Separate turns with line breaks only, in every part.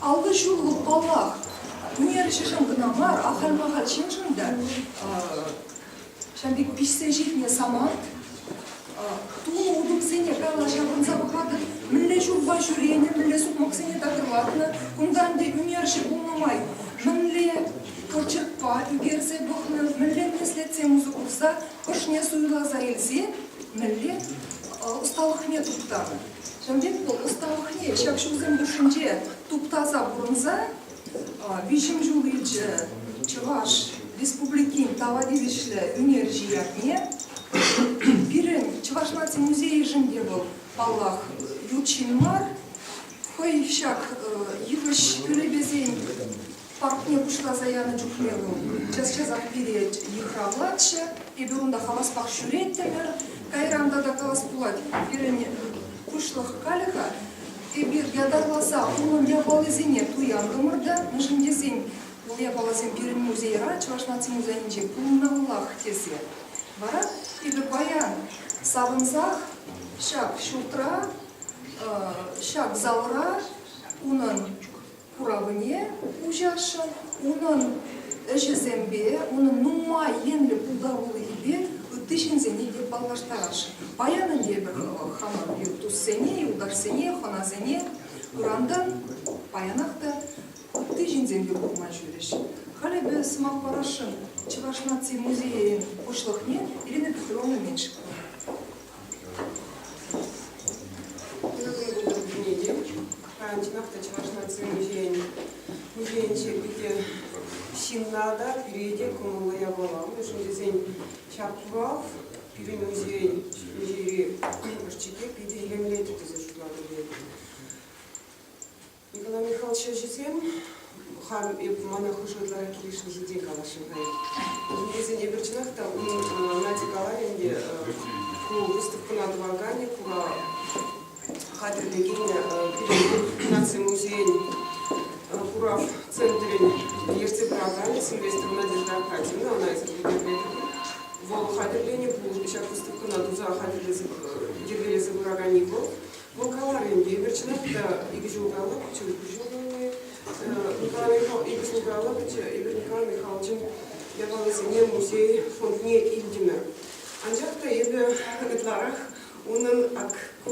Аллӑ ҫуллӑ, паллах, ӳнерҫӗшӗн кӑна мар, ахаль-махаль ҫыншӑн та ҫав пек пиҫсе ҫитнӗ самант. Тулӑ утӑмсене кала ҫаврӑнса пӑхатӑп. Мӗнле ҫулпа ҫӳренӗ, мӗнле сукмаксене такӑрлатнӑ. Кунтан те ӳнерҫӗ пулнӑ май мӗнле пӑчӑкпа ӳкерсе пӑхнӑ, мӗнле меслетсем усӑ курса ӑшне суйласа илсе мӗнле ӑсталӑхне туптанӑ. Ҫавӑн пек вӑл ӑсталӑхне ҫак ҫулсем хушшинче туптаса пурӑнса виҫӗм ҫул илчӗ Чӑваш Республикин тава тивӗҫлӗ ӳнерҫи ятне. Пирӗн Чӑваш наци музейӗшӗн те вӑл, паллах, ют ҫын мар. Хӑй ҫак йывӑҫ кӳлепесен Паркне пуҫласа янӑ чухне вӑл час-часах пире йыхравлатчӗ, эпир унта хаваспах ҫӳреттӗмӗр. Кайран тата калас пулать, пирӗн пуҫлӑх калӗ-ха, эпир ятарласа унӑн япалисене туянтӑмӑр та, мӗншӗн тесен ку япаласем пирӗн музейра, Чӑваш наци музейӗнче пулмаллах тесе. Вара эпӗ паян савӑнсах ҫак ҫуртра, ҫак залра унӑн куравне уҫасшӑн, унӑн ӗҫӗсемпе, унӑн нумай енлӗ пултарулӑхӗпе ытти ҫынсене те паллаштарасшӑн. Паян ӗнтӗ хамӑр туссене, юлташсене, хӑнасене курантан паянах та ытти ҫынсемпе курма ҫӳрӗҫ. Халӗ без сӑмах парасшӑн Чӑваш наци музейӗн пуҫлӑхне Ирина Петровна Меньшикова.
Паянчченах та Чӑваш наци музейӗн музейӗнче питӗ ҫынна та кӳрет кӑмӑллӑ япала. Мӗншӗн тесен ҫак курав пирӗн музейӗн музейри ӑшчике питӗ илемлетӗ тесе шутлатӑп эпӗ. Николай Михайлович ӗҫӗсем хам мана хушӑрларах килӗшнӗ ҫинчен калаҫрӑм-ха. Вӗсен эпир чӑнах та унӑн Нади каларӗ ӗнтӗ ку выставкӑна тӑваканӗ кура хатӗрлекен пирӗн наци музейӗн курав центрӗн ертсе пыраканӗ Сильвестр Надежда Акатьевна, она эсӗ хатӗрленӗ. Вӑл хатӗрленӗ пулӑ ҫак выставкӑна туса хатӗрлесе йӗркелесе пыраканни вӑл. Лукавӑрин евӗр, чӑнах та, икӗ ҫулталла пычӗ Куҫулкуҫуллӑ икӗ ҫулталла пычӗ Игорь Михайлович Михайловичӑн япалисене музей фондне илтӗмӗр. Анчах та эпӗ ытларах унӑн ак ку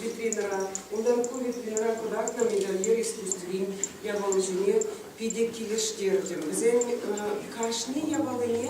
витринӑра, унтан ку витринӑра кӑтартнӑ медальер искусствин япалисене питӗ килӗштертӗм. Вӗсен кашни япалине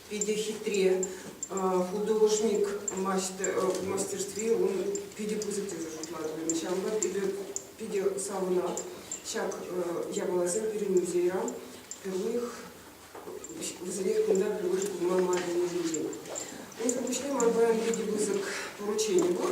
питӗ хитре художник мастерстви ун питӗ пысӑк тесе шутлатӑп. Ҫавӑнпа эпӗ питӗ савӑнат ҫак япаласем пирӗн музейра впервых вӗсерех кунта впервые курма май пулнисенчен. Унсӑр пуҫне ман паян питӗ пысӑк поручени пур.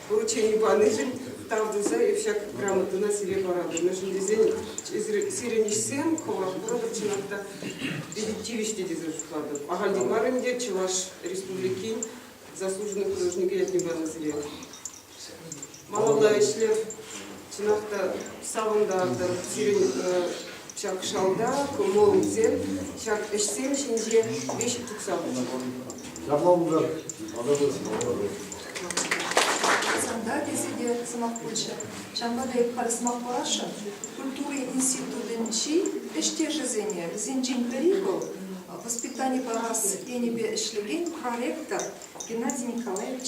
Поручени панишӗн тав туса эп ҫак грамотӑна сире паратӑмшӑн тесен сирӗн ӗҫсем хӑвах курӑпӑр чӑнах та питӗ тивӗҫлӗ тесе шутлатӑп. Ахальтен мар ӗнтӗ Чӑваш Республикин заслуженный художникӗ ятне панӑ сире. Малалла ӗҫлӗр. Чӑнах та савӑнтартӑр сирӗн ҫак шалта кӑмӑлсем, ҫак ӗҫсем ҫинче веҫ тытса пулса. Ҫапла пултар,
ататӑр, ататӑр. Санта тесе те сӑмах пулчӗ. Ҫавӑнпа та эп халӗ сӑмах парасшӑн, культура институтӗнчи ӗҫтешӗсене, вӗсенчен пӗри вӑл, воспитани парас енӗпе ӗҫлекен проректор Геннадий Николаевич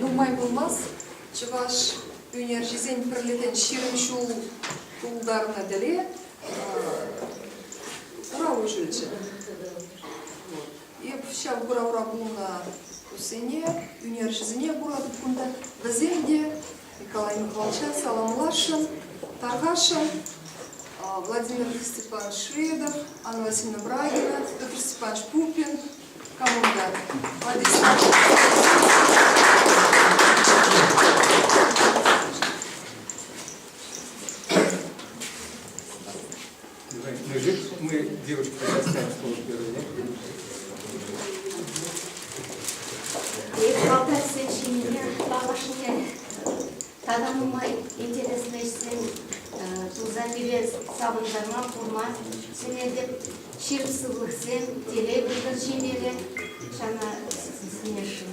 Нумай пулмасть Чӑваш ӳнерҫисен пӗрлӗхӗн ҫирӗм ҫул тултарнӑ тӗле курав уҫӑлчӗ. Эп ҫав куравра пулнӑ туссене, ӳнерҫӗсене куратӑп кунта. Вӗсем те Николай Михайловича саламласшӑн, тархасшӑн. Владимир Степанович Шведов, Анна Васильевна Брагина, Петр Степанович Пупин, команда.
Мужик, мы девушку заставим
службу Эп балтайсен ҫинине лавашне тата нумай интереслӗ ӗҫсем тулса пире савӑнтарма курман сӗнетӗп. Ҫыр сывлӑхсем, телей выртӑр ҫинеле, шана сиснешӗн.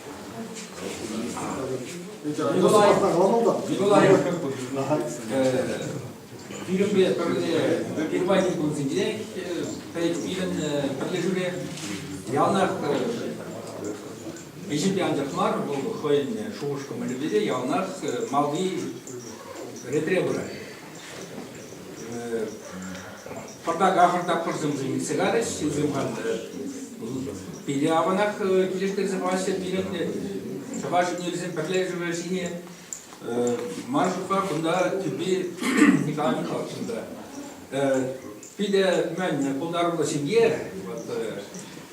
Пирӗнпе пӗрле Германи кунсенче пӗр пирӗн пӗрлешӳре яланах ӗҫӗпе анчах мар, вӑл хӑйӗн шухӑш-кӑмӑлӗпе те яланах малти ретре пырать. Пӑртак ахӑрта пӑрсӑмсем илсе карӗҫ, ҫынсем пире аванах килӗштерсе паҫҫӗ пирӗнтне. Чӑваш ӳнерсен пӗрлешӗвӗ ҫине ман шутпа кунта тӳпи Николай Михайловичӑн та питӗ мӗн пултаруллӑ ҫемье. Вот,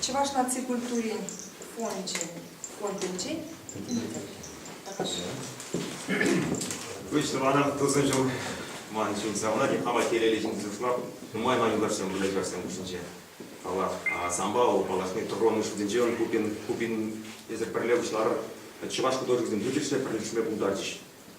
Чӑваш наци
культурин фончӗ фондӗнчен Выҫнӑ вара тӑсӑн ҫул ман чун савӑнать. Авателелле ҫын сушла нумай-нумай юлашсем выляҫасем хушинче. Паллах, самба паллашни тӑрӑннӑ шутӗнче ун купин, купин эсир пӗрле пуҫларӑр. Чӑваш художниксем хытӑшне пӗрлешме пултарчӗҫ.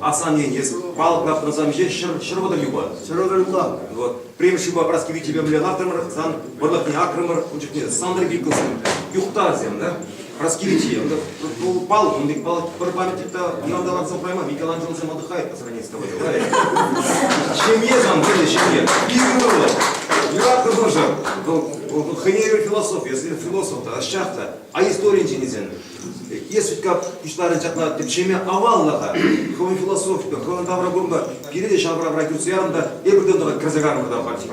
Асаннен эс палӑк ларттарсамҫе ҫӗр, ҫӗр вӑтӑр юпа. Ҫӗр вӑтӑр юпа. Вот. Премӗш юпа Праски вичӗпе мӗнле лартрӑмӑр, сан вӑрлӑхне акрӑмӑр, ун чухне Сантӑр Гиккӑсем, юхтарсем, да? Праски вичем, да. Палӑк, ун пек палӑк пӗр памятник та ӑнланса лартса хурайман, Микеланджелосем отдыхает по сравнению с тобой, бывает. Ҫемье сан, пӗле, ҫемье. Искрӑмӑрлӑ. Юратхӑршӑн. Вӑл хӑйне евӗр философ, если философ та, ӑсчах та. А историйӗн ҫинисен Е сутка пуҫларӗ ҫакна тӗпчеме аваллӑха, хӑвӑн философипе, хӑвӑн тавра курӑмпа пире те ҫавра-вра кӳрсе ярӑн та эпир те тӑрӑх кӗрсе карӑн кӑна хваттер.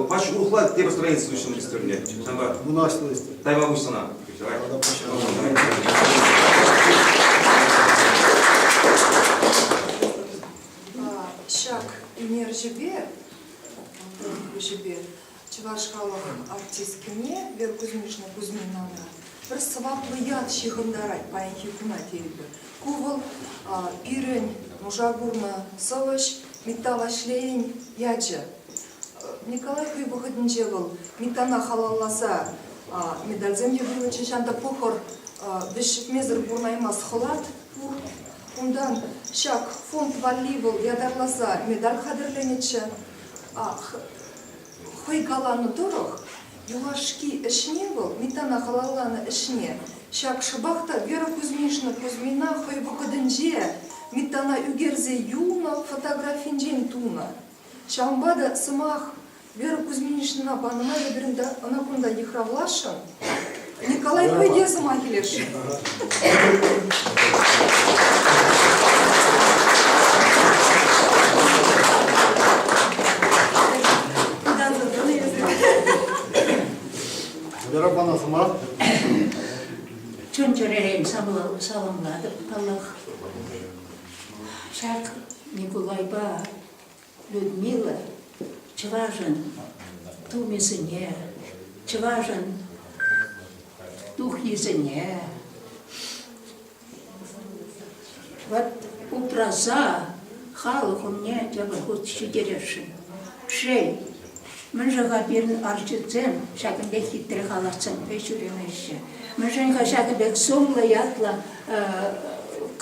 Пач урӑхла тепӗр строительство уҫнӑ исторне. Ҫавна вунашнӑ Тайвабуҫ сана. Ҫак ӳнерҫӗпе,
ӳнерҫӗпе Чӑваш халӑхӑн артисткине Вера Кузьминична Кузьминана пӗр сӑваплӑ ят ҫыхӑнтарать паянхи куна тейӗпӗр. Ку вӑл пирӗн нуша курнӑ сӑвӑҫ Митта Ваҫлейӗн ячӗ. Николай хӑй вӑхӑтӗнче вӑл Миттана халалласа медальсем те вылӑчӗ. Ҫав та пӑхӑр, вӗҫҫӗтмесӗр пурӑнаймасть хӑлат пур унтан. Ҫак фонд валли вӑл ятарласа медаль хатӗрленӗччӗ. Хӑй каланӑ тӑрӑх, юлашки ӗҫне вӑл, Митана халалланӑ ӗҫне, ҫак шӑпах та Вера Кузьмишна Кузьмина хӑй вӑхӑтӗнче Митана ӳкерсе юлнӑ фотографинчен тунӑ. Ҫавӑнпа та сӑмах Вера Кузьминичнӑна панӑ май эпир ӑна кунта йыхравласшӑн. Николай хӑй те сӑмах илес-ши?
Вера пана сӑмах. Чун-чӗререн саламлатӑп паллах. Ҫак Николайпа Людмила чӑвашӑн тумӗсене, чӑвашӑн тухйисене вот упраса халӑх умне тепӗр хут ҫитересшӗн. Шей, Мӗншӗн-ха пирӗн арҫынсем ҫакӑн пек хитре халатсемпе ҫӳремеҫҫӗ? Мӗншӗн-ха ҫакӑ пек сумлӑ ятлӑ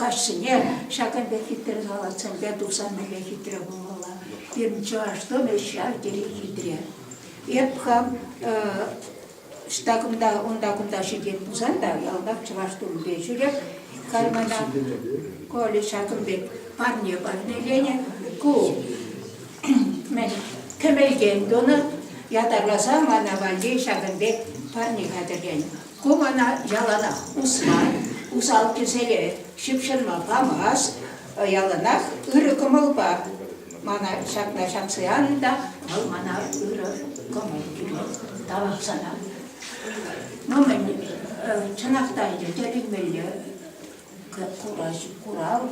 каҫсене ҫакӑн пек хитре халатсемпе туса мӗнле хитре пулмалла? Пирӗн чӑваш тумӗ ҫав тери хитре. Эп хам Ӑҫта кунта, унта кунта ҫитет пулсан та ялтах чӑваш тумӗпе ҫӳреп, кармана Коля ҫакӑн пек парне-парнеленӗ. Ку мӗн кӗмӗлтен тунӑ, ятарласа мана валли ҫакӑн пек парне хатӗрленӗ. Ку мана яланах усман, усал кӗселе ҫыпҫӑнма памасть, яланах ырӑ кӑмӑлпа Мана ҫакна ҫакси анытах, вӑл мана ырӑ кӑмӑл кӳрет, тавах сана. Ну, мӗн, чӑнах та ӗнтӗ тӗлӗнмелле курав,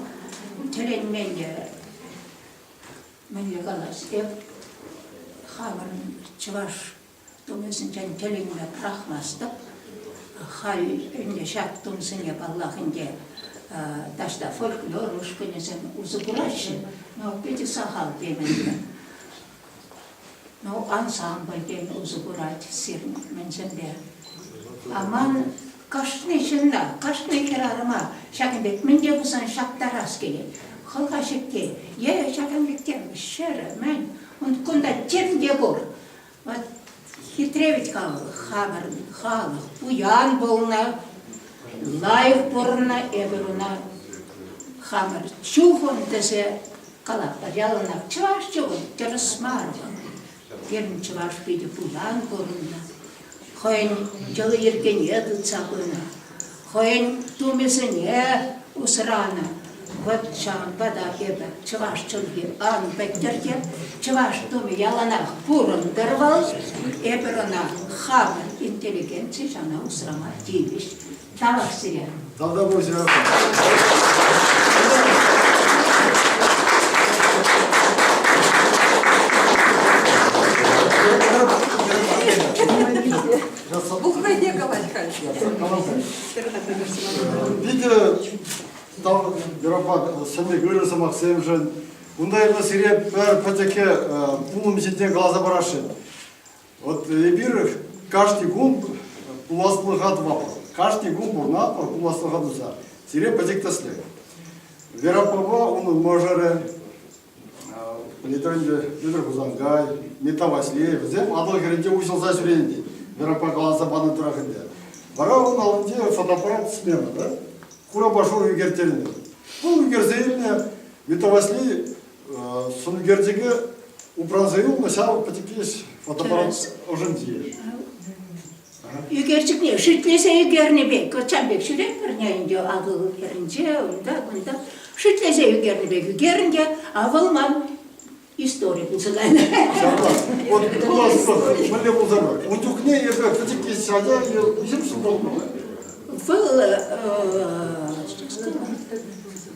тӗлӗнмелле, мӗнле калас, эп хамӑн чӑваш Тумӗсенчен тӗлӗнме пӑрахмастӑп. Халь ӗнтӗ ҫак тумсене, паллах, ӗнтӗ таҫта фольклор ушкӑнӗсем усӑ кураҫҫӗ, но питӗ сахал темӗнле. Ну, ансамбль тен усӑ курать сирӗн мӗнсемпе. А ман кашни ҫынна, кашни хӗрарӑма ҫакӑн пек мӗн те пулсан ҫаптарас килет. Хӑлха ҫекки е ҫакӑн пек тем ҫӗрӗ, мӗн, кунта тем те пур. Вот хитре ведь халӑх, хамӑр халӑх, пуян пулнӑ, лайӑх пурӑннӑ эпир уна. Хамӑр чухӑн тесе калатпӑр. Яланах чӑваш чухӑн, тӗрӗс мар вӑл. Пирӗн чӑваш питӗ пуян пурӑннӑ. Хӑйӗн йӑли-йӗркене тытса пынӑ. хӑйӗн тумӗсене усранӑ. Вот ҫавӑнпа та эпӗ чӑваш чӗлхи ан пӗттӗр те, чӑваш тумӗ яланах пурӑнтӑр вӑл, эпир ӑна хамӑн интеллигенци ҫана усрама тивӗҫ. Тавах сире. Долговозия.
Ухӑйне
калать-ха Питӗ тав Еропа сӗнӗк ырӑ сӑмахсемшӗн. Унта эпӗ сире пӗр пӗчӗкке пулӑм ҫинчен каласа парасшӑн. Вот эпир кашни кун пуласлӑха тӑватпӑр. Кашни кун пурӑнатпӑр пуласлӑха туса. Сире пӗчӗк тӗслӗх. Веропапа унӑн мӑшӑрӗ, Пӗлетӗр Ӗнер Хусанкай, Митта Ваҫлеев, вӗсем Атӑл хӗрӗнче уҫӑлса ҫӳренӗ меропа каласа панӑ тӑрах ӗнтӗ. Вара ун аллинче фотоаппарат смена та, хурапа шур ӳкерттернӗ. Ку ӳкерсе илнӗ Митта Ваҫли сӑн ӳкерчӗке упранса юлнӑ ҫав пӗчӗккеш фотоаппарат ӑшӗнче.
Ӳкерчӗкне шӳтлесе ӳкернӗ пек, кӑлчан пек ҫӳретпӗрне ӗнтӗ акӑ хӗрӗнче, унта, кунта. Шӳтлесе ӳкернӗ пек ӳкерӗн те, а вӑл ман историк называем. Ҫавах,
вот куласлӑх мӗнле пулса пар? Ун чухне эсӗ пӗчӗкки ҫака кусем ҫук пулнӑ. Вӑл, э, что сказать?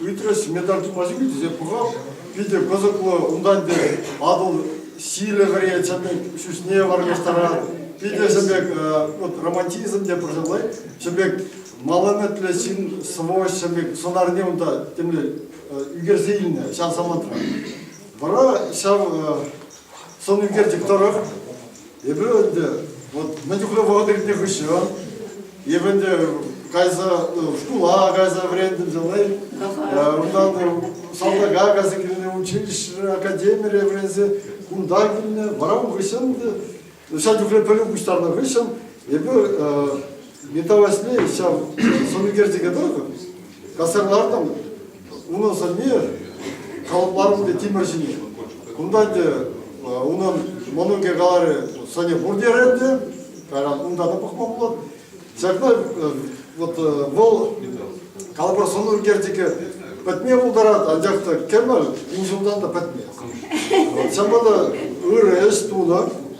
Ыйтрӗҫ, медаль тупаҫҫӗ тесе пӑхап, питӗ кӑсӑклӑ. Унта ӗнтӗ Атӑл силӗ вӗре чӗпӗн ҫӳҫне вырнаҫтарать. Питӗ ҫӗн пек, вот романтизм те пӑрҫалай, ҫӗн пек малометлӗ ҫын сӑвӑҫ ҫӗн пек сӑнарне унта темле ӳкерсе илнӗ ҫав самантра. Вара ҫав сӑн ӳкерчӗк тӑрӑх Эпӗ ӗнтӗ вот на чухле вӑхӑт иртнӗ хыҫҫӑн эпӗ ӗнтӗ кайса шкула кайса вӗрентнӗ жылай унтан салтака кайса килнӗ училище академире вӗренсе кунта килнӗ вара ун хыҫҫӑн ҫав чухле пӗлӳ пуҫтарнӑ хыҫҫӑн эпӗ металлаҫни ҫав сӑнӳкерчӗке тӑрӑх касарлартӑм. Унӑн сӑнни калӑпларӑм те тимӗр ҫине. Кунта те унӑн мӑнукӗ каларӗ, сӑнӗ пур терӗ те, кайран унта та пӑхма пулать. Ҫакна вот вӑл калӑпӑр сӑнӳкерчӗке пӗтме пултарать, анчах та кӗмӗл вун ҫултан та пӗтмест. Ҫапла та ырӑ ӗҫ тунӑ.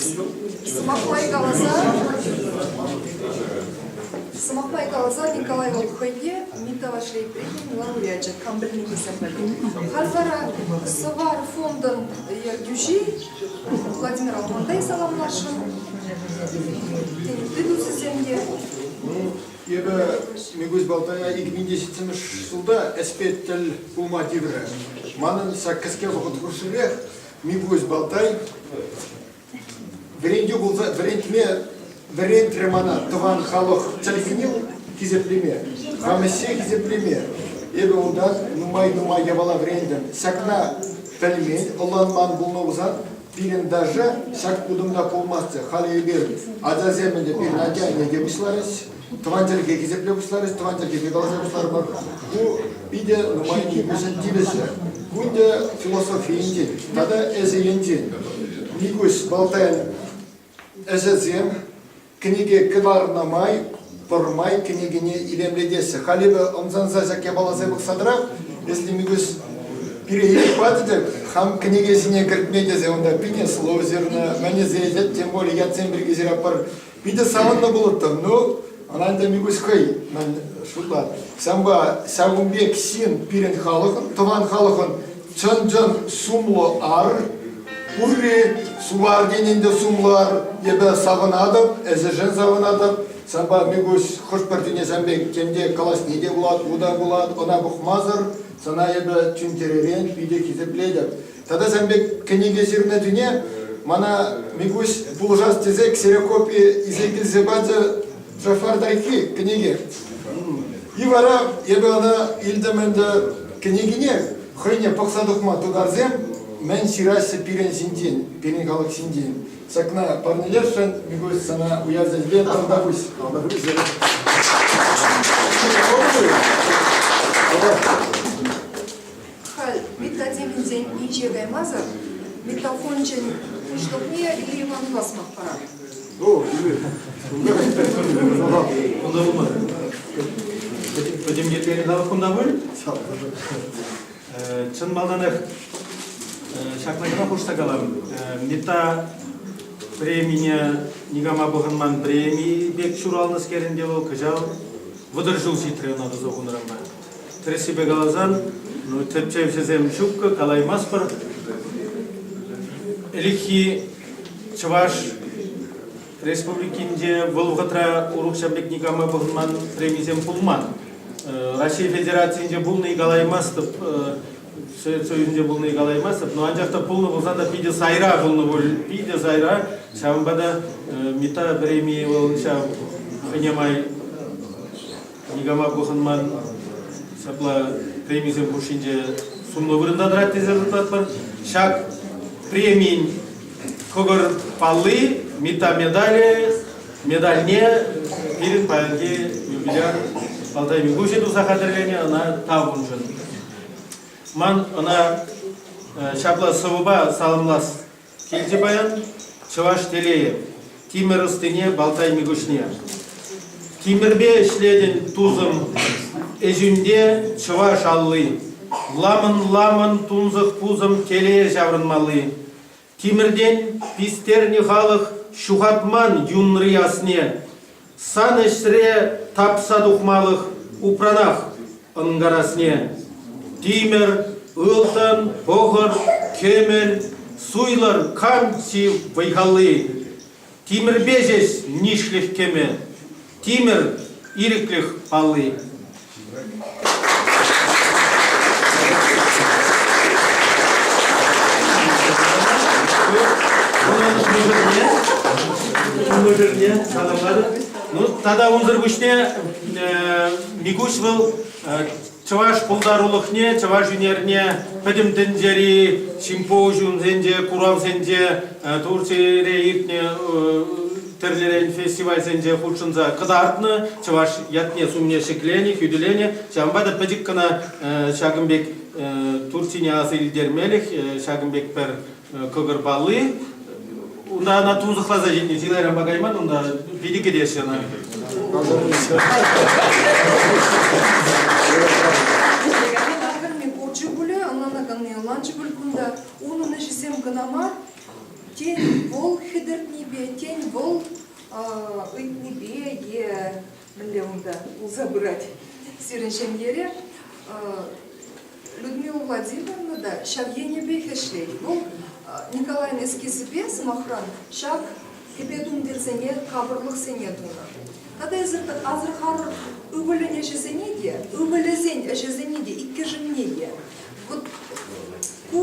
Сӑмахпай каласа, сӑмахпай каласа Николай вӑл хӑйне Митта Вашлейбригин лауреачӗ кам пӗлни пӗлсех Халь вара сӑвар фондӑн ертӳҫи Владимир Алмандай саламласшӑн. Тытусӗсем те.
Эпӗ Микусь Балтая икӗ миң те ҫитсемӗш ҫулта ӗҫпе тӗл пулма тиврӗ. Манӑн ҫак кӗске вӑхӑт хушширех Микусь Балтай вӗрентӳ пулса вӗрентме вӗрентрӗ мана тӑван халӑх чӗлхине хисеплеме, хамӑҫе хисеплеме. Эпӗ унта нумай-нумай япала вӗрентӗм. Ҫакна пӗлмен, ӑнланман пулнӑ пулсан, пирӗн даже ҫак утӑмта пулмастчӗ. Халӗ эпир ачасем ӗнтӗ пирӗн атя ӗне те пуҫларӗҫ. Тӑван чӗлхе хисепле пуҫларӗҫ, тӑван чӗлхене каласа пуҫларӑмӑр. Ку питӗ нумай килмӗшӗн тивӗҫлӗ. Ку ӗнтӗ философийӗнчен тата эсӗ Никуҫ Балтайӑн ӗҫӗсем кӗнеке кӑларнӑ май пӗрмай кӗнекене илемлетеҫҫӗ. Халь эпӗ ӑмсанса ҫак япаласем пӑхса тӑрап, если Микуҫ переедет патӗ, хам кӗнеке ҫине кӗртме тесе унта питӗ сложно, мӗнӗсе тем более ятсем пирки ҫыраппӑр. Питӗ савӑннӑ пулӑттӑм. Ну, ӑна ӗнтӗ Микуҫ хӑй мӗн шутла. Ҫавӑнпа ҫакӑн пек ҫын пирӗн халӑхӑн, тӑван халӑхӑн чӑн-чӑн сумлӑ ар. Пурри сувар тенин те сумлӑ ар. Эпӗ савӑнатӑп, эсӗшӗн савӑнатӑп. Ҫавӑнпа Микуҫ хӑш-пӗр тӳне сан пек тем калаҫни те пулать, ку та пулать, ӑна пӑхмасӑр сана эпӗ чун-чӗререн питӗ хисеплетӗп. Тата сан пек кӗнеке ҫырнӑ чухне мана Микуҫ пулӑшас тесе ксерокопи илсе килсе пачӗ Джафар Таркки кӗнеке. И вара эпӗ ӑна илтӗм ӗнтӗ кӗнекине хӑйне пӑхса тухма тутарсем мӗн ҫыраҫҫӗ пирӗн ҫинчен, пирӗн халӑх ҫинчен. Ҫакна парнелесшӗн Микуҫ сана уявсен ӗҫӗпе тавтапуҫ. Тавтапуҫ.
Халь
методивӗнсен инҫе каймасӑр метафончӗн пуҫлӑхне Лериван Басмов парать.
О, Кунта пулмады. Пӗтӗм еплере тавах кунта пуль. Чӑн малтанах ҫакна кӑна хушса калам. Мета премине никама пӑхӑнман преми пек ҫуралнӑскерӗнте вӑл кӑҫал вӑтӑр ҫул ҫитрӗ ӑна тӑса хунӑранпа. Тӗрӗссипе каласан, ну, тӗпчевҫӗсем ҫуккӑ, калаймастпӑр. Ӗлӗкхи Чӑваш Республикинче вӑл вӑхӑтра урӑхҫа пек никама пӑхӑнман премисем пулман. Раҫҫей Федерацийӗнче пулни калаймастӑп, Совет Союзӗнче пулни калаймастӑп, но анчах та пулнӑ пулсан та питӗ сайра пулнӑ пуль, питӗ сайра. Ҫавӑнпа та Митта премии вӑл ҫав хӑйне май Никама пӑхӑнман. Ҫапла премисем хушшинче сумлӑ вырӑнта тӑрать тесе шутлатпӑр. Ҫак премин кӑкӑр палли, медале, медальне пирӗн паянхи юбиляр Алтай Микуҫӗ туса хатӗрленӗ ӑна тавӑншӑн. Ман ӑна ҫапла сӑвӑпа саламлас Килте паян чӑваш телейӗ, тимӗр ӑстине Балтайми куҫне. Тимӗрпе ӗҫлетӗн, тусӑм, ӗҫӳнте чӑваш алли. Ламӑн-ламӑн тунсӑх пусӑм телее ҫаврӑнмалли. Тимӗртен пистернӗ халӑх ҫухатман юнри асне. Сан ӗҫре тапса тухмалӑх упранах ӑнкарасне. Тимӗр, ылтӑн, пӑхӑр, кӗмӗл, суйлӑр канти вӑй-халли. Тимӗрпе ҫеҫ нишлӗх кӗмӗ. Тимӗр, ирӗклӗх палли. мӑшӑрне саламлатӑп. Ну, тата унсӑр пуҫне э, Микуҫ вӑл э, чӑваш пултарулӑхне, чӑваш ӳнерне пӗтӗм тӗнчери симпозиумсенче, куравсенче э, Турцире иртнӗ э, Тӗрлӗрен фестивальсенче хутшӑнса кӑтартнӑ, чӑваш ятне-сумне ҫӗкленӗ, хӳтӗленӗ. Ҫавӑнпа та пӗчӗк кӑна ҫакӑн пек Турцине аса илтермелӗх, ҫакӑн пек пӗр кӑкӑр палли. Унта ӑна тунсӑхласа ҫитнӗ, чылайранпа кайман унта, питӗ кӗтеҫҫӗ ӑна. Ӗҫлекенсен ахӑрми пурччӗ пулӗ, ӑнланаканни ӑнланчӗ пуль кунта.
Унӑн ӗҫӗсем кӑна мар, тен вӑл хӗтӗртнипе, тен вӑл ыйтнипе е мӗнле унта пулса пырать сирӗн ҫемьере. Людмила Владимировна та ҫав енӗпех ӗҫлет. Вӑл Николайн эскизӗпе, сӑмахран, ҫак кӗпе-тумтирсене, капӑрлӑхсене тунӑ. Тата асӑрхарӑр ывӑлӗн ӗҫӗсене те, ывӑлӗсен ӗҫӗсене те иккӗшӗнне те. Вот Ку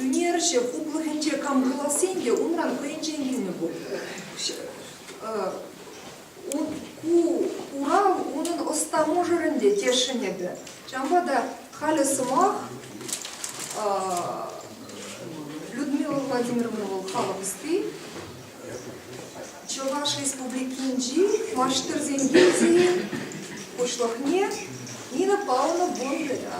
ӳнерҫӗ хуплӑхӗнче кам каласен те унран хӑйӗнчен килнӗ пуль. Ку курав унӑн ӑста мӑшӑрӗн те тесшӗн эпӗ. Ҫавӑнпа та халӗ сӑмах Людмила Владимировна вӑл халӑх ӑсти. Чӑваш Республикинчи маҫтӑрсен пенсийӗн пуҫлӑхне Нина Павловна Бондарева.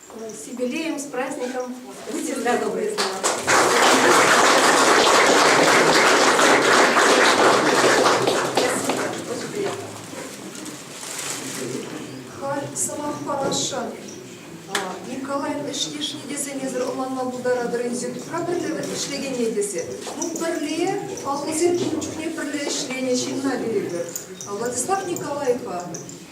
С юбилеем, с праздником! Будьте здоровы!
Халь сӑмах парасшӑн. Николаев ӗҫлешни тесенесӗр ӑнланма пултаратӑр ӗнтӗ. Тупра пӗрле ӗҫлекене тесе. Ну, пӗрле, паллӑсем ун чухне пӗрле ӗҫленӗ ҫынна перетӗр. Владислав Николаевпа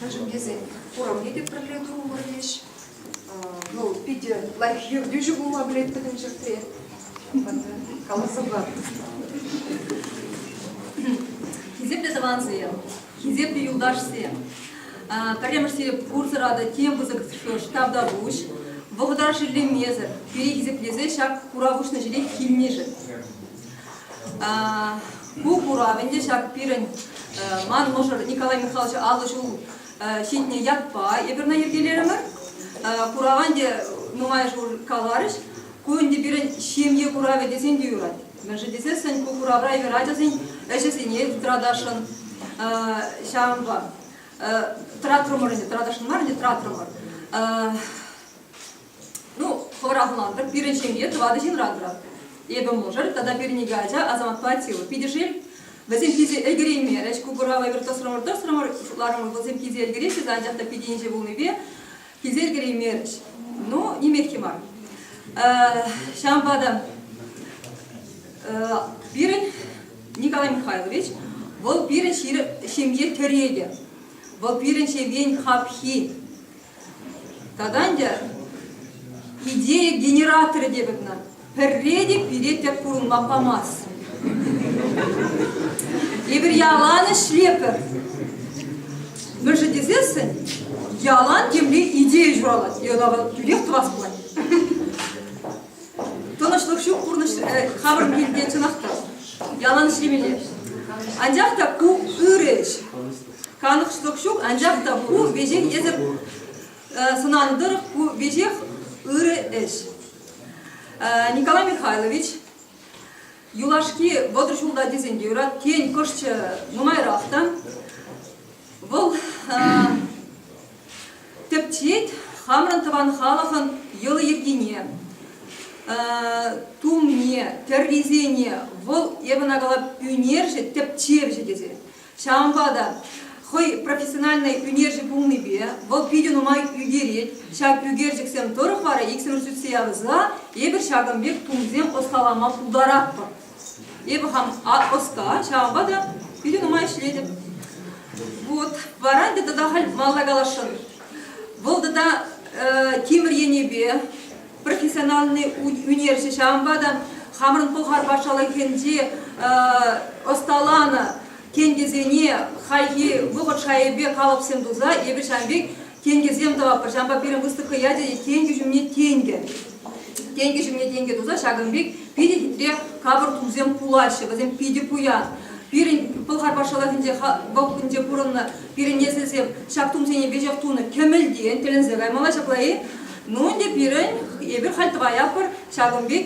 Мӗншӗн тесен хурамне те пӗрле тухмӑр леҫ. Ну, питӗ лайӑх ертӳҫӗ пулма пӗлет пӗтӗм ҫӗртре. Каласа пар.
Хисеплӗ тӑвансем, Хисеплӗ юлташсем, пӗрремӗш сереп пурсӑратӑ тем пысӑк ҫтавтапуҫ. Вӑхӑтра шеллемесӗр, пире хисеплесе ҫак курав уҫнӑ ҫӗре килнишӗн. Ку курав ӗнтӗ ҫак пирӗн ман мӑшӑр Николай Михайлович аллӑ ҫул ҫитнӗ ятпа эпирна йӗркелерӗмӗр. Курава ӗнтӗ нумай ҫул каларӗҫ. Ку ӗнтӗ пирӗн ҫемье куравӗ тесен те юрать. Мӗншӗн тесессӗн ку куравра юр ачасен ӗҫӗсене тӑратасшӑн ҫавӑнпа. Тӑратрӑмӑр ӗнтӗ, тӑратасшӑн мар ӗнтӗ, тӑратрӑмӑр. Ну, хӑвӑрахлантӑр, пирӗн ҫемье тӑватӑ ҫынран тӑратать. Эпӗ мӑшӑр тата пирӗн икӗ ача Азаматпа Атила. Питӗ шел, вӗсем питӗ ӗлкӗреймерӗҫ. Ку курава эпир тӑсрӑмӑр-тӑсрӑмӑр, шутларӑмӑр, вӗсем питӗ ӗлкӗреҫҫӗ те, анчах та питӗ инҫе пулнипе Килсе ӗлкӗреймерӗҫ. Ну, нимех-и мар. Ҫавӑнпа та пирӗн Николай Михайлович, вӑл пирӗн ҫемье тӗрекӗ. Вӑл пирӗн ҫемьен хапхи. Тата ӗнтӗ идея генераторӗ тетӗп ӑна. Пӗрре те пире тӗп хурӑнпа памасть. Эпир ялан ӗҫлепӗр. Мӗншӗн тесессӗн ялан темле идея ҫуралать, йӑла тӳрех тӑвас пулать. Тӑнӑҫлӑх ҫук пурнӑҫ хамӑрӑн килте чӑнах та ялан ӗҫлемелле. Анчах та ку ырӑ ӗҫ. Канӑҫлӑх ҫук, анчах та ку веҫех эсӗр сӑнанӑ тӑрӑх ку веҫех ырӑ ӗҫ. Николай Михайлович юлашки вӑтӑр ҫулта тесен те юрать, тен, кӑшчӑ нумайрах та. Вӑл тӗпчет хамӑрӑн тӑван халӑхӑн йӑли-йӗркине, тумне, тӗррисене. Вӑл, эпӗ ӑна калап, ӳнерҫӗ, тӗпчевҫӗ тесе. Ҫавӑнпа та хӑй профессиональнӑй ӳнерҫӗ пулнипе вӑл питӗ нумай ӳкерет. Ҫак ӳкерчӗксем тӑрӑх вара иксӗмӗр сӳтсе явӑса эпир ҫакӑн пек тумсем ӑсталама пултаратпӑр. Эпӗ хам ӑста, ҫавӑнпа та питӗ нумай ӗҫлетӗп. Вот, вара ӗнтӗ тата халь малта каласшӑн. Вӑл тата тимӗр енӗпе профессиональный ӳнерҫӗ ҫавӑнпа та хамӑрӑн Пӑлхар патшалӑхӗнче ӑсталанӑ тенкӗсене хайхи вӑхӑт шайӗпе калӑпсем туса эпир ҫавӑн пек тенкӗсем тӑватпӑр. Ҫавӑнпа пирӗн выставка ячӗ тенкӗ ҫумне тенкӗ. Тенкӗ ҫумне тенкӗ туса ҫакӑн пек питӗ хитре капӑр тумсем пулаҫҫӗ, вӗсем питӗ пуян. Пирӗн Пӑлхар патшалӑхӗнче вӑхӑтӗнче пурӑннӑ пирӗн несӗлсем ҫак тумсене веҫех тунӑ кӗмӗлтен тӗлӗнсе каймалла ҫапла-и? Ну ӗнтӗ пирӗн, эпир халь тӑваятпӑр ҫакӑн пек,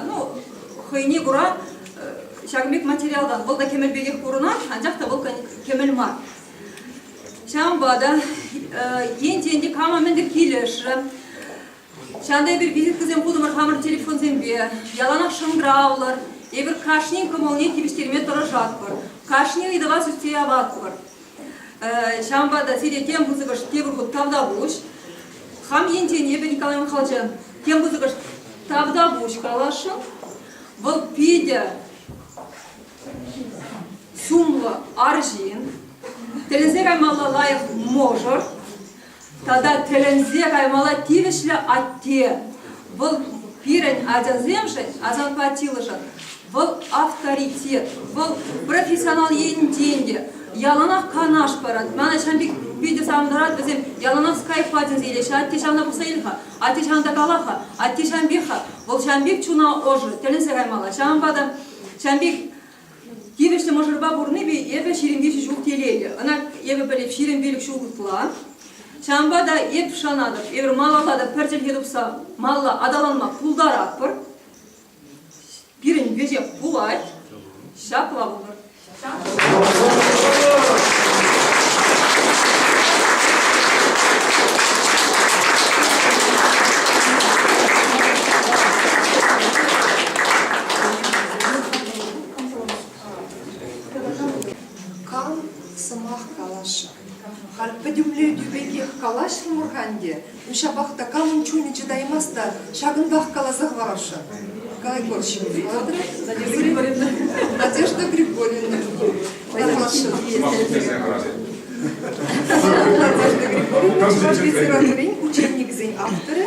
ну хӑйне кура ҫакӑн пек материалтан. Вӑл та кӗмӗл пекех курӑнать, анчах та вӑл кӗмӗл мар. Ҫавӑнпа та ентен кама мӗнле килӗшрӗ. Ҫавӑнта эпир визиткӑсем хутӑмӑр хамӑр телефонсемпе, яланах шӑнкӑравлӑр. Эпир кашнин кӑмӑлне тивӗҫтерме тӑрӑшатпӑр, кашни ыйтӑва сӳтсе яватпӑр. Ҫавӑнпа та сире тем пысӑкӑш тепӗр хут тавтапуҫ. Хам енчен эпӗ Николай Михайловича тем пысӑкӑш тавтапуҫ каласшӑн. Вӑл питӗ сумлӑ арҫын. Тӗлӗнсе каймалла лайӑх мӑшӑр. Тата тӗлӗнсе каймалла тивӗҫлӗ атте. Вӑл пирӗн ачасемшӗн, асаппа тилӗшӗн, вӑл авторитет, вӑл профессионал енчен те яланах канаш парать. Мана ҫавӑн пек питӗ савӑнтарать, вӗсем яланах скайпа тесе илеҫҫӗ. Атте ҫавна пӑхса ил-ха, атте ҫавна та кала-ха, атте ҫавӑн пек-ха, вӑл ҫавӑн пек чуна ӑшӑ, тӗлӗнсе каймалла. Ҫавӑнпа та ҫавӑн пек Тивӗҫлӗ мӑшӑрпа пурнипе эпӗ ҫирӗм виҫӗ ҫул телейлӗ. Ӑна эпӗ пӗлӗп ҫирӗм пилӗк ҫул ытла. Ҫавӑнпа та эп шанатӑп, эпир малалла та пӗр чӗлхе тупса малла аталанма пултаратпӑр. Пирӗн веҫех пулать. Ҫапла пулӑр.
Кал сӑмах калаҫӑр. Халь пӗтӗмлетӳ пекех калаҫрӑмӑр-ха ӗнтӗ. Ҫапах та камӑн чунӗ чӑтаймасть та ҫакӑнтах каласа хӑварасшӑн. Кайкор ҫынни. Юрий Валерьевна. Надежда Григорьевна. Калаҫӑр. Надежда Григорьевна, Чӑваш литературин учебникӗсен авторӗ.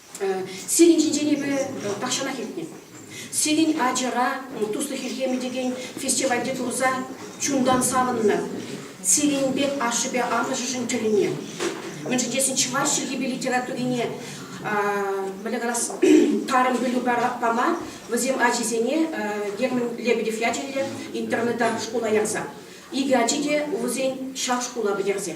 Сирӗн ҫинчен эпӗ тахҫанах илтнӗ. Сирӗн ачӑра туслӑх ирхемӗ текен фестивальте курса чунтан савӑннӑ. Сирӗн пек ашшӗпе амӑшӗшӗн тӗлӗне. Мӗншӗн тесен чӑваш чӗлхипе литературине мӗне калас тарӑн пӗлӳ пама вӗсем ачисене Герман Лебедев ячӗллӗ интернета шкула ярса. Икӗ ачи те вӗсен ҫак шкула пӗтерсе.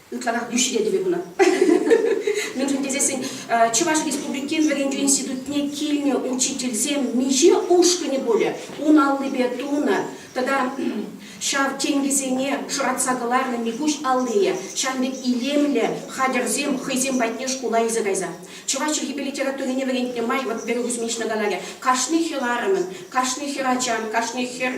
ытларах йӳҫре тӗве хунӑ. Мӗншӗн тесессӗн Чӑваш Республикин вӗрентӳ институтне килнӗ учительсем миҫе ушкӑнӗ пулӗ ун аллипе тунӑ тата ҫав тенкӗсене шӑратса кӑларнӑ Микуҫ аллийӗ ҫавӑн пек илемлӗ хатӗрсем хӑйсем патне шкула илсе кайса. Чӑваш чӗлхипе литературине вӗрентнӗ май, вот Веру Кузьминична каларӗ, кашни хӗрарӑмӑн, кашни хӗрачан, кашни хӗр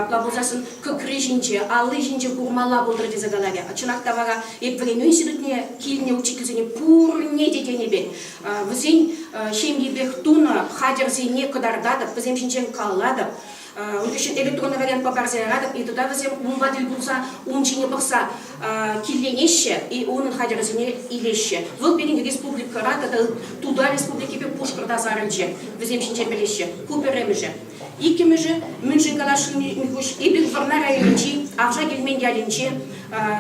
плавуржассӑн кӑкри ҫинче, алли ҫинче курмалла пултӑр тесе каларӗ. Чӑнах та вара эп вӗренӳ институтне килнӗ учительсене пурне те тенӗ пек вӗсен ҫемйипех тунӑ хатӗрсене кӑтартатӑп, вӗсем ҫинчен калатӑп. Ыйтусен эпӗ тунӑ вариантпа парса яратӑп. Ыйтута вӗсем умпа тӗл пулса ун ҫине пӑхса килленеҫҫӗ и унӑн хатӗрӗсене илеҫҫӗ. Вӑл пирӗн республикӑра тата Туда республикипе Пушкӑрта сарӑлчӗ. Вӗсем ҫинчен пӗлеҫҫӗ. Ку пӗрремӗшӗ. Иккӗмӗшӗ, мӗншӗн каласшӑн Михуҫ, эпир Вӑрнар районӗнчи Авша Килмен ялӗнче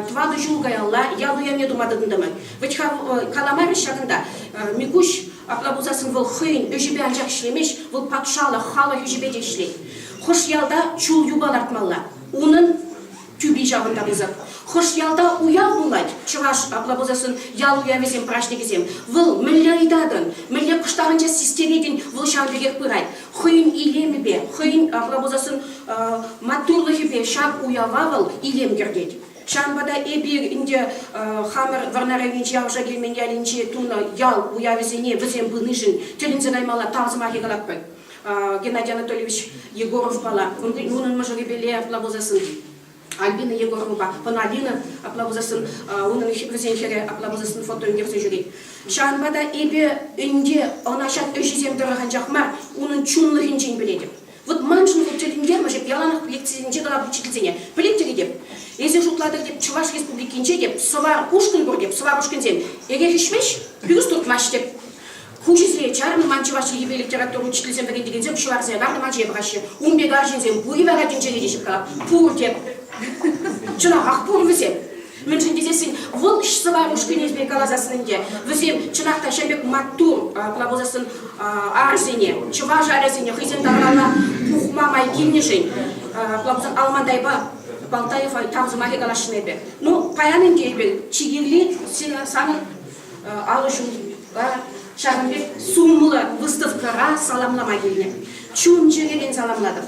тӑватӑ ҫул каялла ял уявне тума тытӑнтӑмӑр. Вӗт-ха, каламарӗҫ ҫакӑнта. Микуҫ апла пулсассӑн вӑл хӑйӗн ӗҫӗпе анчах ӗҫлемест, вӑл патшалӑх, халӑх ӗҫӗпе те ӗҫлет. Хӑш ялта чул юпа лартмалла, унӑн тӳпи ҫавӑнта пысӑк. Хӑш ялта уяв пулать, чӑваш апла пулсассӑн ял уявӗсем, праҫникӗсем. Вӑл мӗнле ыйтатӑн, мӗнле кӑштарӑнча систеретӗн, вӑл ҫавӑн пекех пырать. Хӑйӗн илемӗпе, хӑйӗн апла пулсассӑн маттурлӑхӗпе ҫак уява вӑл илем кӗртет. Ҫавӑнпа та эпир ӗнтӗ хамӑр Вӑрнарӑвӗнчи Авша Кӳлмен ялӗнче тунӑ ял уявӗсене вӗсем пынишӗн тӗлӗнсе каймалла тав сӑмахӗ калатпӑр. Геннадий Анатольевич Егоровпала унӑн мӑшӑрӗпеле апла пулсассӑн Альбина Егоровӑпа хӑна Алина апла пулсассӑн унӑн вӗсен хӗрӗ апла пулсассӑн фото ӳкерсе ҫӳрет. Ҫавӑнпа та эпӗ ӗнтӗ ӑна ҫак ӗҫӗсем тӑрӑх анчах мар, унӑн чунлӑхӗнчен пӗлетӗп. Вот маншӑн вот тӗлӗнтермӗш эп яланах лекцисенче калав учительсене. Пӗлетчӗ тетӗп, эсир шутлатӑр теп, Чӑваш Республикинче теп, сӑва ушкӑн пур теп, сӑва ушкӑнсем эрех ӗҫмеҫ, пӳрс туртмасть теп. Хуҫисене чарнӑ ман Чӑваш Енӗпе литература учительсем вӗрентекенсем ҫӑварсене картӑ ман ҫие пӑхаҫҫӗ. Ун пек арҫынсем пур-и вара тӗнчере теҫҫӗ калап. Пур теп. Чӑнахах пур вӗсем. Мӗншӗн тесессӗн вӑл сӑвар ушкӑнӗ пек каласассӑн ӗнтӗ, вӗсем чӑнах та ҫӗлӗк маттур пулма пулсассӑн арӑсене, чӑваш арӑсене хӑйсен тавралла пухма май килнӗшӗн пулсан Алмандайпа Балтаева тав сӑмахӗ каласшӑн эпӗ. Ну, паян ӗнтӗ эпир чи кирли санӑн алӑҫура ҫакӑн пек сумлӑ выставкӑра саламлама килнӗ. Чун-чӗререн саламлатӑп.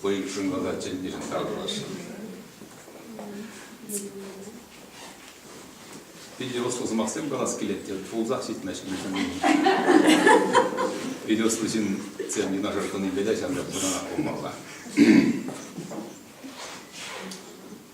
Хӑйӗн шӑнкӑлта чӗннишӗн таврӑнасшӑн. Питӗ ӑслӑ сӑмахсем калас килет те пулсах ҫитмест Питӗ ӑслӑ ҫынсем юнашар тӑнипе те ҫавӑнпа пурӑнанах пулмалла.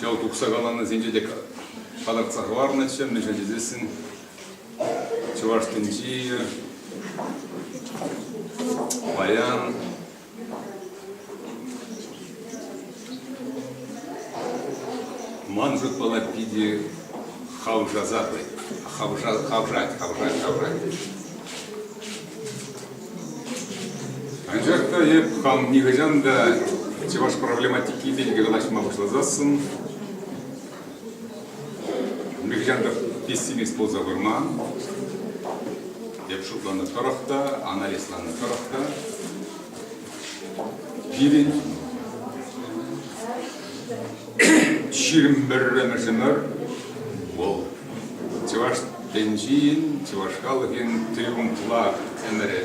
Чӑл тухса каланисенче те палӑртса хӑварнӑччӗ, мӗншӗн тесессӗн Чӑваш тӗнчи, паян ман шутпала питӗ хавшаса хавшать, хавшать, хавшать, хавшать. Анчах та эп хам нихӑҫан та чӑваш проблематики пирки калаҫма пуҫласассӑн нихӑҫан та пессимист пулса курман. Эп шутланӑ тӑрӑх та, анализланӑ тӑрӑх та Пирӗн ҫирӗм пӗрремӗшӗмӗр вӑл чӑваш тӗнчин, чӑваш халӑхӗн триумфла ӗмӗрӗ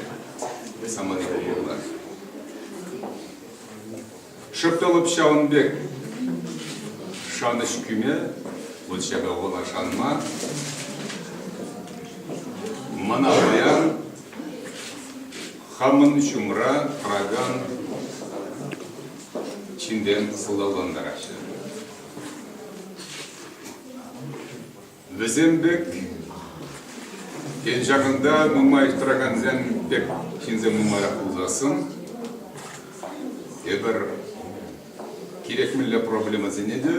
самани пулмалла. Шӑпталӑп ҫавӑн пек шанӑҫ кӳме, вот ҫака вӑла шанма, мана паян Хамӑн ҫумра тӑракан ҫынсем хулалантараҫҫӗ. Вӗсем пек ен ҫакӑнта нумай тӑракансем пек ҫынсем нумайрах пулсассӑн эпир кирек мӗнле проблемӑсене те,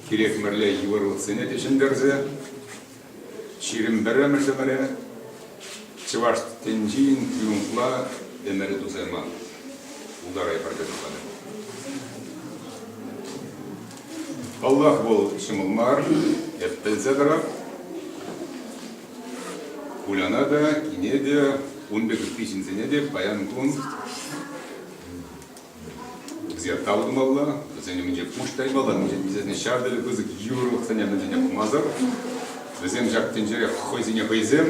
кирек мӗнле йывӑрлӑхсене те ҫӗнтерсе Ҫирӗм пӗрремӗш ӗмӗре чӑваш тӗнчин триумфла ӗмӗрӗ тусайман. Ултарай пӗрке тухатӑр. Паллах, вӑл ҫӑмӑл мар, эп пӗлсе тӑрап. Куляна та, кине те, ун пек ытти ҫынсене те паян кун Вӗсене тав тумалла, вӗсен умӗнче пуҫ таймалла, вӗсене ҫав тери пысӑк йывӑрлӑхсене мӗншӗне пӑхмасӑр. Вӗсем ҫак тӗнчере хӑйсене хӑйсем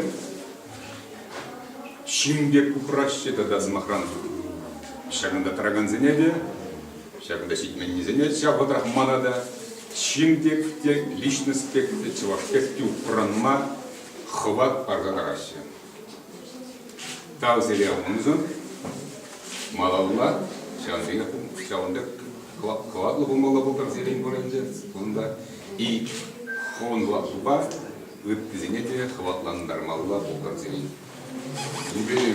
ҫын пек упраҫҫӗ тата, сӑмахран, ҫакӑнта тӑракансене те, ҫакӑнта ҫитменнисене, ҫав вӑхӑтрах мана та ҫын пек те, личность пек те, чӑваш пек те упранма хӑват парса параҫҫӗ. Тав сериал уншӑн малалла ҫавӑн пекех ҫавӑн пек хӑватлӑ пулмалла пултӑр сирӗн вырӑнче. Кунта и хӑвӑнла шупа ыттисене те хӑватлантармалла пултӑр сирӗн. Юбилей.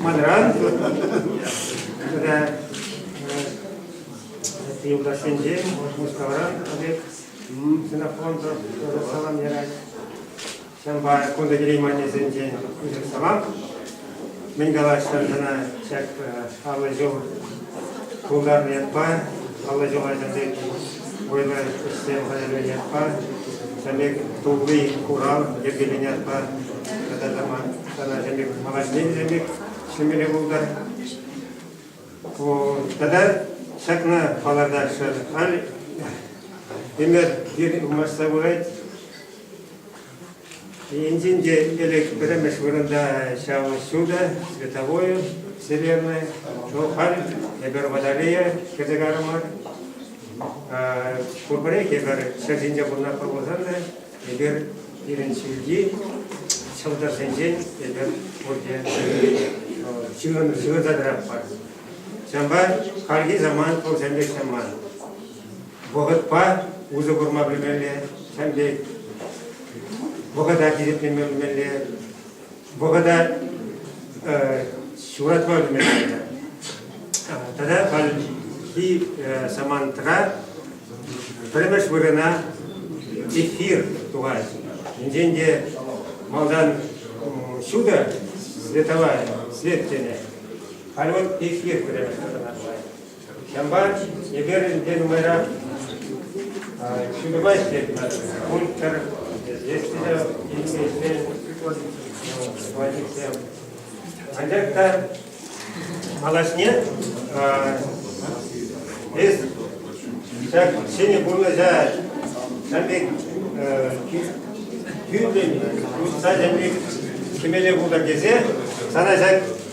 Манран юлташсенчен Мускавран пек синофон салам ярать. Ҫавӑнпа кунта килеймен аннесенчен салам. Мӗн калаҫҫӗ сана ҫак аллӑ ҫул пултарнӑ ятпа, аллӑ ҫул ачасен вӑйлӑ ӗҫсем хатӗрленӗ ятпа, тулли курав йӗркеленӗ ятпа тата та Тата ӗлӗк, молодец ӗлӗк, ҫӗмӗре пултӑр. Тата ҫакна палӑртаҫҫӗ. Халь ӗмӗр ир масса пырать. Енчен те ӗлӗк пӗрремӗш вырӑнта ҫав ҫутӑ, световое, вселенная, то халь эпир батарея кӗрсе карӑмӑр. Пурпӗрех эпир ҫӗр ҫинче пурӑнатпӑр пулсан та Эпир пирӗн ҫӳлти ҫӑлтӑрсенчен эпир пурте ҫывӑртаратпӑр. Ҫавӑнпа хальхи заман пурсем пек чӑмман. Вӑхӑтпа усӑ курма пӗлмелле, ҫемпе вӑхӑта тирпетлеме пӗлмелле, вӑхӑта ҫуратма ӗлкӗрнӗ. Тата хальхи самантра пӗрремеш вырӑна эфир тухать. Енчен те малтан ҫутӑ световая свет тенӗ, халь вот эфир пӗрремеш вырӑна тухать. Ҫампа эпир ӗнтӗ нумайрах ҫутӑпа ӗҫлетпӗр. Пур пӗр есть те интереслӗ водительсем. Анчах та малашне эс ҫак ҫӗнӗ пурнӑҫа ҫан пек тӳррӗн, усса ҫан пек ҫимеле пултӑр тесе сана ҫак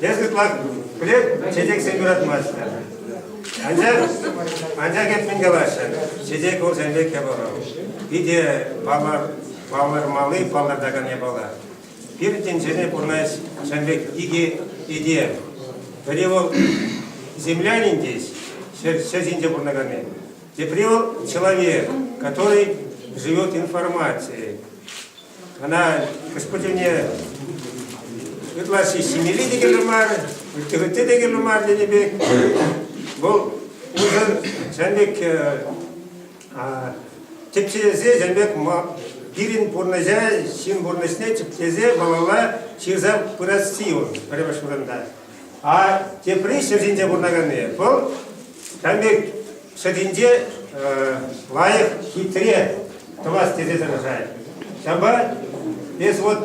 Эс ытла пӗлет, чечексем юратмаҫҫӗ. Анчах, анчах эп мӗн калаҫҫӗ? Чечек вӑлсен пек япала. Питӗ палӑр, палӑрмалли, палӑртакан япала. Пир тӗнчене пурнӑҫ ҫын пек икӗ этем. Пӗри вӑл землянин тес, ҫӗр, ҫӗр ҫинче пурӑнаканни. Тепри вӑл человек, который живет информацией. Ӑна Господьне ытлашши ҫимелли те кирлӗ мар, ытти-ытти те кирлӗ мар тенӗ пек. Вӑл унсӑр ҫавӑн пек тӗпчесе ҫавӑн пек пирӗн пурнӑҫа, ҫын пурнӑҫне тӗпчесе малалла ҫырса пырасси он пӗрремӗш вырӑнта. А тепри ҫӗр ҫинче пурӑнаканни вӑл ҫавӑн пек ҫӗр ҫинче лайӑх, хитре тӑвас тесе тӑрӑшать. Ҫавӑнпа эс вот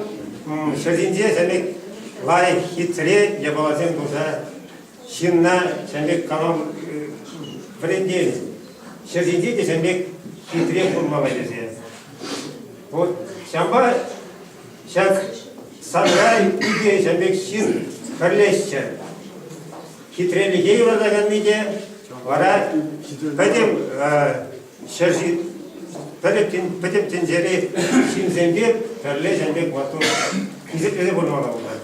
ҫӗр ҫинче ҫавӑн пек лайӑх, хитре япаласем туса ҫынна ҫавӑн пек калам вӗрентен. Ҫӗр ҫинче те ҫавӑн пек хитре пурӑнмалла тесе. Вот ҫавӑнпа Ҫак саркай икӗ ӗҫа пек ҫын хӗрлеҫҫӗ. Хитрелӗхе юратаканни те вара пӗтӗм ҫӗр пӗтӗм, пӗтӗм тӗнчери ҫынсемпе пӗрле ҫан пек маттур хисеплесе пурӑнмалла пулать.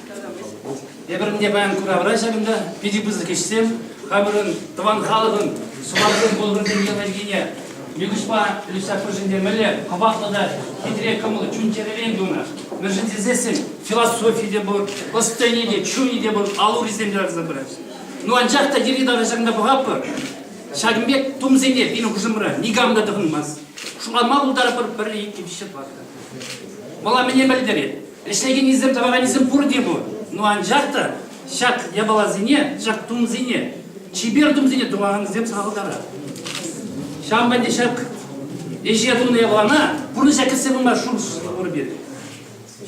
Эпир ӗнтӗ паян куравра ҫакӑнта питӗ пысӑк ӗҫсем, хамӑрӑн тӑван халӑхӑн суварсем пулӑшӑн технологине нихӑҫпа Люся пӗршӗнтермелле хӑватлӑ та хитре кӑмӑллӑ чун-чӗререн тунӑ. Мӗншӗн тесессӗн философи те пур, ӑс-тӑнӗ те, чунӗ те пур, ал-урисем те лартса пыраҫҫӗ. Ну анчах та йӗри-тавра ҫакӑнта пӑхатпӑр, ҫакӑн пек тумсене пирӗн хушӑмра никам та тӑхӑнмасть. Шутланма пултарӑпӑр пӗрле иккӗ виҫҫӗ тӑватка. Вӑла мӗне пӗлтерет? Ӗҫлекеннисем, тӑваканӗсем пурте пур. Ну анчах та ҫак япаласене, ҫак тумсене, чипер тумсене тӑвакансем сахалтарах. Ҫавӑнпа те ҫак ӗҫе тунӑ япалана пурнӑҫа кӗртсе пыма шур пур пирӗн.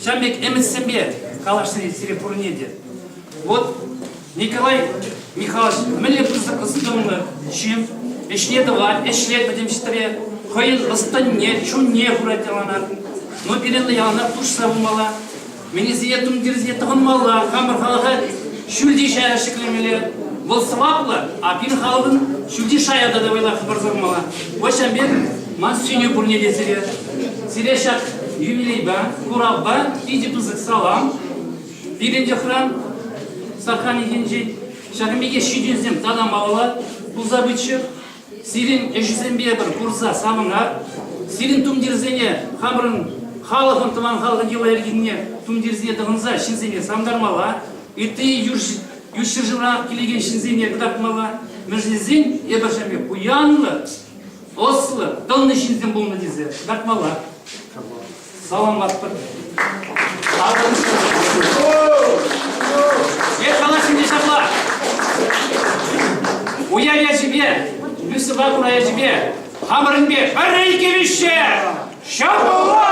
Ҫавӑн пек ӗмӗтсемпе калаҫни сире пурне те. Вот Николай Михайлович мӗнле пысӑк ӑс-тӑнлӑ ҫын, ӗҫне тӑвать, ӗҫре пӗтӗмсӗтре хӑйӗн ӑс-тӑнне, чунне хурать яланах. Но пирӗнле яланах хушса пымалла, мӗнесене тумтирсене тӑхӑнмалла, хамӑр халӑха ҫӳлти шая ҫӗклемелле. Вӑл сӑваплӑ, а пирӗн халӑхӑн ҫӳлти шая та вӑйлах хӑпарса пымалла. Ваҫҫа мер, ман сӳнӳ пурне те сире. Сире ҫак юбилейпа, куравпа питӗ пысӑк салам. Пирӗн йӑхран Сахалинсенчи ҫакӑн пекех ҫитӗнсем танамалла пулса пыччӑр. Сирӗн ӗҫсемпе пӗр курса савӑнар. Сирӗн тумтирсене хамӑрӑн халӑхӑн, тӑван халӑхӑн йӑла-йӗркине тумтирсене тӑхӑнса ҫынсене савӑнтармалла, ытти ют ҫӗршывран килекен ҫынсене кӑтартмалла, мӗншӗн тесен эпӗр ҫав пек пуянлӑ, ӑслӑ, тӑлнӑ ҫынсем пулнӑ тесе кӑтартмалла. Саламлатпӑр. Е калаҫнине ҫапла. Уяв ячӗпе, Люсьӑпа кура ячӗпе, хамӑрӑнпе пӗрре иккӗмӗшҫe ҫапла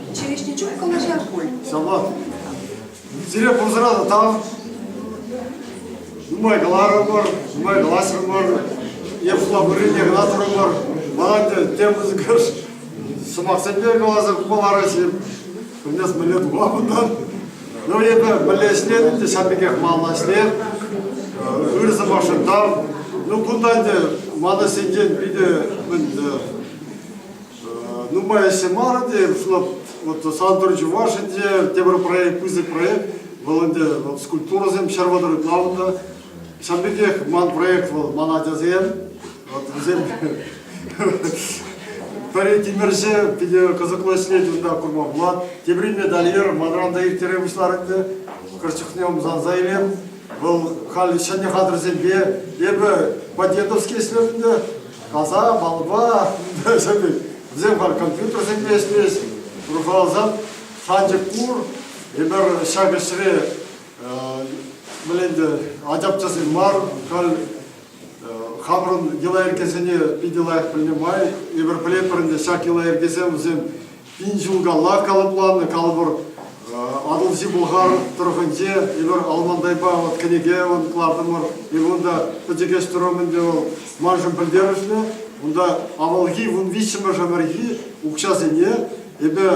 Ҫивӗчнӗ
чух калаҫар
пуль.
Самат, сире пурсӑра
тата нумай каларӑмӑр, нумай калаҫрӑмӑр, е пултарнине кӑна турӑмӑр. Мана те тем пысӑкӑш сӑмахсемпе каласа хума параҫҫӗ. Пӗлмес мӗнле тума кунтан. Ну, эпӗ мӗнле ӗҫлетӗн те ҫав пекех малла ӗҫле. Ыр сӑмахшӑн тав. Ну, кунтан те ман ӗҫсенчен питӗ мӗн нумайӑшӗ мар ӗнтӗ, вот Сантӑр Чуваш ӗнтӗ тепӗр проект, пысӑк проект, вӑл ӗнтӗ вот скульптурӑсем ҫӗр вӑтӑрӑк лавнӑ. Ҫавӑн пекех ман проект вӑл, ман ачасем, вот вӗсем пӗри тимӗрҫӗ, питӗ кӑсӑклӑ ӗҫлет унта курма пулать. Тепри медальер манран та ирттере пуҫлар ӗнтӗ. Кӑшт чухне ӑмсанса илем. Вӑл халь ҫӗнӗ хатӗрсемпе эпӗ по-дедовски ӗҫлеп ӗнтӗ. Каса, балба, вӗсем бар компьютерсемпе ӗҫлес. Урхаласан шанчӑк пур. Эпир ҫак ӗҫре мӗн ӗнтӗ ачапчасем мар, халь хамӑрӑн йӑла-йӗркесене питӗ лайӑх пӗлнӗ май, эпир пӗлетпӗр ӗнтӗ ҫак йӑла-йӗркесем вӗсем Пин ҫул калла калӑпланнӑ калӑпӑр Атӑлҫи Пӑлхар тӑрӑхӗнче эпир Алмандайпа вот кӗнеке кӑлартӑмӑр. Иван та пӗчӗк ӗҫ тӑрӑм ӗнтӗ вӑл маншӑн пӗлтерӗшлӗ. Унта авалхи вун виҫҫӗмӗш ӗмӗрхи укҫасене эпӗ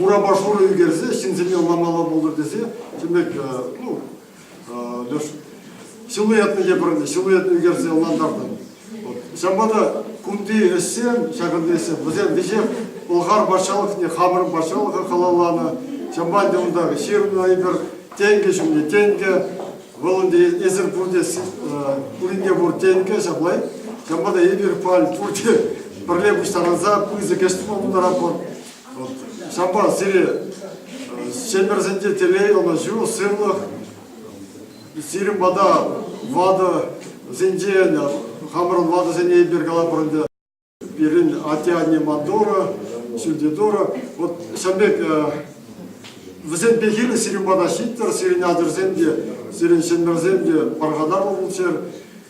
урапа шурӑ ӳкерсе ҫынсене ӑнламалла пултӑр тесе тем пек ну, Леш силуэтне те пӗр силуэт ӳкерсе ӑнлантартӑм. Ҫавӑнпа та кунти ӗҫсем, ҫакӑнти ӗҫсем, вӗсем веҫех Пӑлхар патшалӑхне, хамӑрӑн патшалӑха халалланӑ. Ҫавӑнпа ӗнтӗ унта ҫырӑннӑ эпир тенкӗ ҫумне тенкӗ, вӑл ӗнтӗ эсир пурте пуринне пур тенкӗ ҫапла. Ҫавӑнпа та эпир пурте пӗрле пуҫтарӑнса пысӑк ӗҫ пултаратпӑр. Ҫапа сире чемперсенче телей, ӑнӑҫу, сывлӑх, сирӗн пата ватӑсенчен, хамӑрӑн ватӑсене эпир калапӑр ӗнтӗ, пирӗн атте-анне Мандора, Шильдидора, вот ҫавӑн пек вӗсем пехил сирӗн пата ҫиттӗр, сирӗн ачӑрсем те, сирӗн чемперсем те пархатарлӑ пулччӑр.